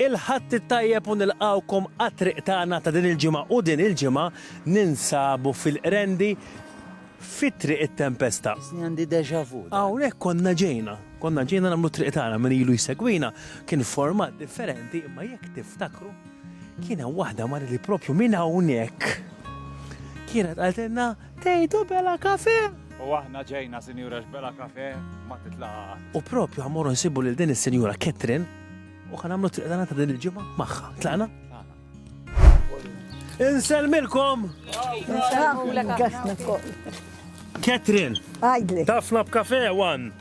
Il-Ħadd it-tajjeb u nilqgħukom għat-triq tagħna ta' din il-ġimgħa u din il-ġimgħa ninsabu fil-Qrendi fi Triq it-Tempesta. Isni għandi déjà vu. Hawnhekk konna ġejna, konna ġejna nagħmlu triq tagħna min ilu jsegwina kien format differenti imma jekk tiftakru kien hemm waħda mara li propju minn hawnhekk kienet qaltilna Tgħidu Bela Café? U aħna ġejna sinjura x'Bela Café ma titlaqa' qatt. U propju ħa mmorru nsibu lil din is-sinjura Catherine u ħa nagħmlu t-triq tagħna ta' din il-ġimgħa magħha. Tlaqna? Insellmilkom! Catherine! Tafna b'Café One!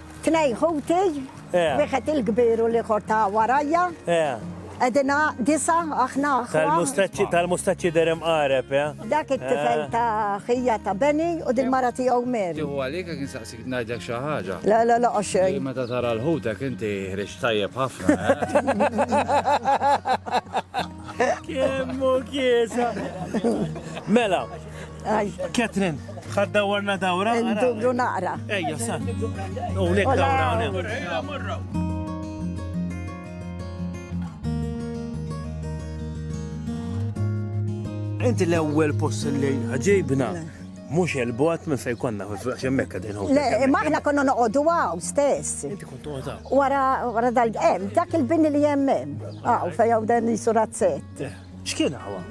Tnejn ħuti, wieħed il-kbir u l-ieħor ta' warajja. Qegħdin disa aħna. Tal-mustaċċi tal-mustaċċi der imqareb, ja? Dak it-tifel ta' ħija ta' Beni u din mara tiegħu Mary. Tieħu għalik jekk insaqsik ngħidlek xi ħaġa. Le, le, le, xejn. Li meta tara l-ħutek inti ħriġ tajjeb ħafna. Kemm hu kiesa. Mela, Catherine, ħad dawwarna dawra? Ndubru naqra. Ejja, sa. U lek dawra, u Inti l-ewwel post li ġejbna mhux il-bot minn fejn konna x'hemmhekk qegħdin hu. Le, ma aħna konna noqogħdu hawn stess. Inti kont toqgħod Wara wara dal hemm dak il-bini li hemm hemm. Hawn fejn hawn dan jisu razzett. Eh, x'kien hawn?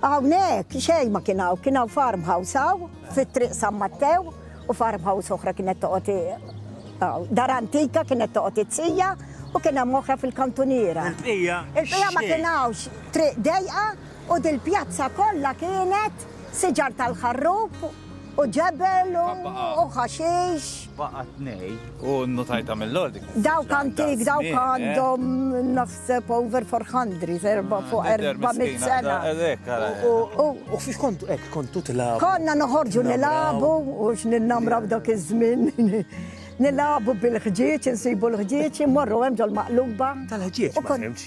Hawnhekk xejn ma kien hawn, kien hawn farmhouse hawn fit-Triq San Mattew u farmhouse oħra kienet toqgħod dar antika kienet toqgħod it-sija u kien hemm oħra fil-kantuniera. Il-bqija. Il-bqija ma kien hawnx triq dejqa u dil-pjazza kollha kienet siġar tal-ħarrub u ġebel u ħaxix. Baqgħet ngħi u nnutajtha mill-għodik. Dawk antik, dawk eh? għandhom naħseb over 400, erba fuq 400 sena. U fiex kontu, ek, kontu tilabu. Konna noħorġu nilabu, u x'ninnamraw dak iż-żmien. Nilabu bil-ħġieġ, insibu l-ħġieġ, immorru hemm ġol maqluba. Tal-ħġieġ, ma fimx.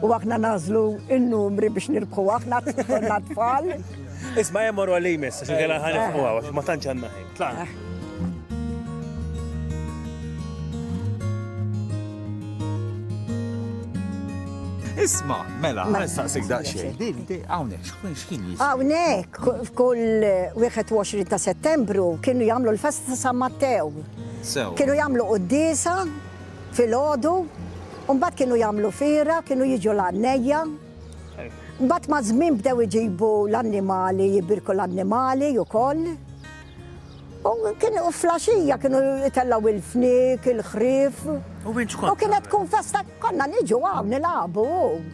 U aħna nażlu n-numri biex nirbħu aħna konna tfal. Isma' hemm morru li jmiss, għax kien ħan nifqu għax ma tantx għandna ħin. Tlaqna. Eh. Isma, mela, għal saqsik daqxie. Għawnek, xkun xkien jisma? Għawnek, f'kull 21 ta' settembru kienu jamlu l-festa ta' San Mattew. Kienu jamlu qoddisa filgħodu, u mbagħad kienu jagħmlu fiera, kienu jiġu l-għannejja. Mbagħad maż-żmien bdew iġibu l-annimali, jibirku l-annimali ukoll. U kienu flaxija kienu jitellaw il-fnik, il-ħrif. U kienet tkun festa konna niġu hawn nilagħbu.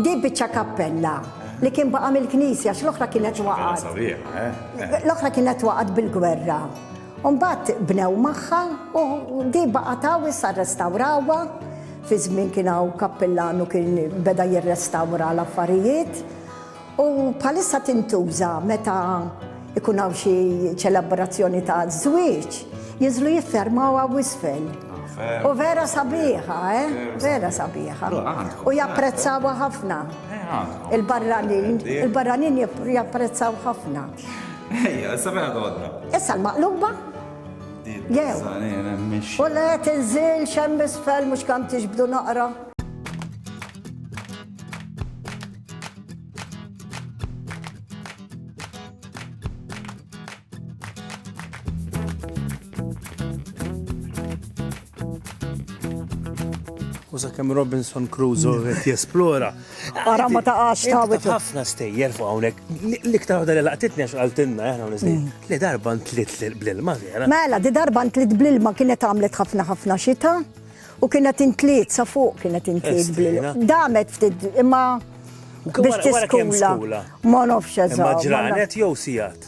Di biċċa kappella li kien baqa' mill-knisja x'l-oħra kienet waqgħet. Eh? L-oħra kienet waqgħet bil-gwerra. U mbagħad bnew magħha u di baqgħet hawn issa rrestawrawha. Fi żmien kien hawn kappillan u kien beda jirrestawra l-affarijiet. U bħalissa tintuża meta ikun hawn xi ċelebrazzjoni ta' żwieġ, jinżlu jiffermaw hawn isfel. U vera sabiħa, eh? Vera sabiħa. U japprezzawa ħafna. Il-barranin, il-barranin japprezzaw ħafna. Ejja, issa fejn għodna? Issa l-maqluba? Jew. U le tinżil xem misfel mhux kam tiġbdu naqra. U sakemm Robinson Crusoe mm. qed jesplora. Ara ma taqax ta' wet. Ħafna stejjer fuq hawnhekk. L-iktar waħda li laqtitni għax qaltilna aħna eh, nistej. Mm. Li darba ntlit bl-ilma vera. Mela, di darba ntlit bl-ilma kienet għamlet ħafna ħafna xita u kienet intliet sa fuq kienet intliet bl-ilma. Damet ftit imma biex tiskula. Ma nofx eżatt. Ma ġranet jew sijat.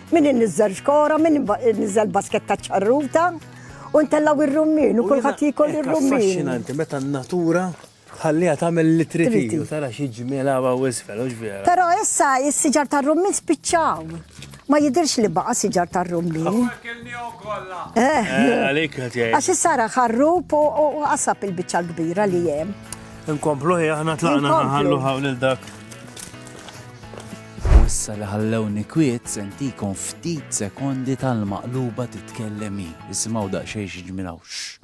Min inniżżel xkora, min inniżżel basketta ċċarruta u ntellgħu r-rummin u kulħadd jiekol ir-rummin. Affaxxinanti meta n-natura tħalliha tagħmel li trid u tara xi ġmiel hawn u isfel, hux vera? Però issa s-siġar tar-rummin spiċċaw. Ma jidhirx li baqa' siġar tar-rummin. Għax issa ra ħarrub u qasab il-biċċa l-kbira li hemm. Inkomplu hi aħna tlaqna ħallu hawn il-dak. U issa li ħallewni kwiet se ntikom ftit sekondi tal-maqluba titkellem hi. Isimgħu daqsxejn xi ġmiel hawn. Xxx.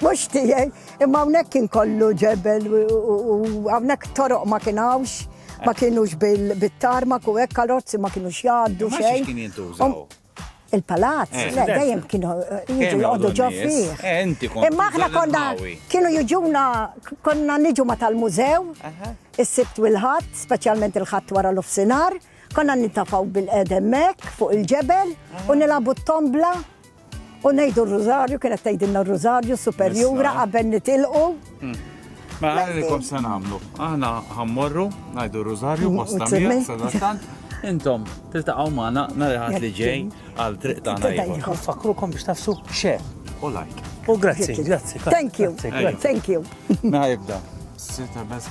Mhux tiegħi, imma hawnhekk kien kollu ġebel u hawnhekk toroq ma kien hawnx, ma kienux bil-tarma ku hekk karozzi ma kienux jgħaddu xejn. kien jintużaw? Um, il-palazz, eh, le, dejjem kienu eh, jiġu jgħoddu ġo fih. Eh, imma aħna konna kienu jiġuna konna niġu ma tal-mużew, is-sibt u l-ħadd, speċjalment il-ħadd wara l-ofsinar, konna nintafaw bil-edemmek fuq il-ġebel u nilabu t-tombla U ngħidu r-rużarju, kienet tgħidilna r-rużarju superjura qabel nitilqu. Hmm. Ma mela, għalikom se nagħmlu. Aħna ħammorru, ngħidu r-rużarju, bosta miegħek, Intom, tiltaqgħu magħna nhar ħadd li ġej għal triq tagħna ieħor. Fakrukom biex tafsu xe. U like. U grazzi, grazzi. Thank you. Thank you. Naħibda. Sita best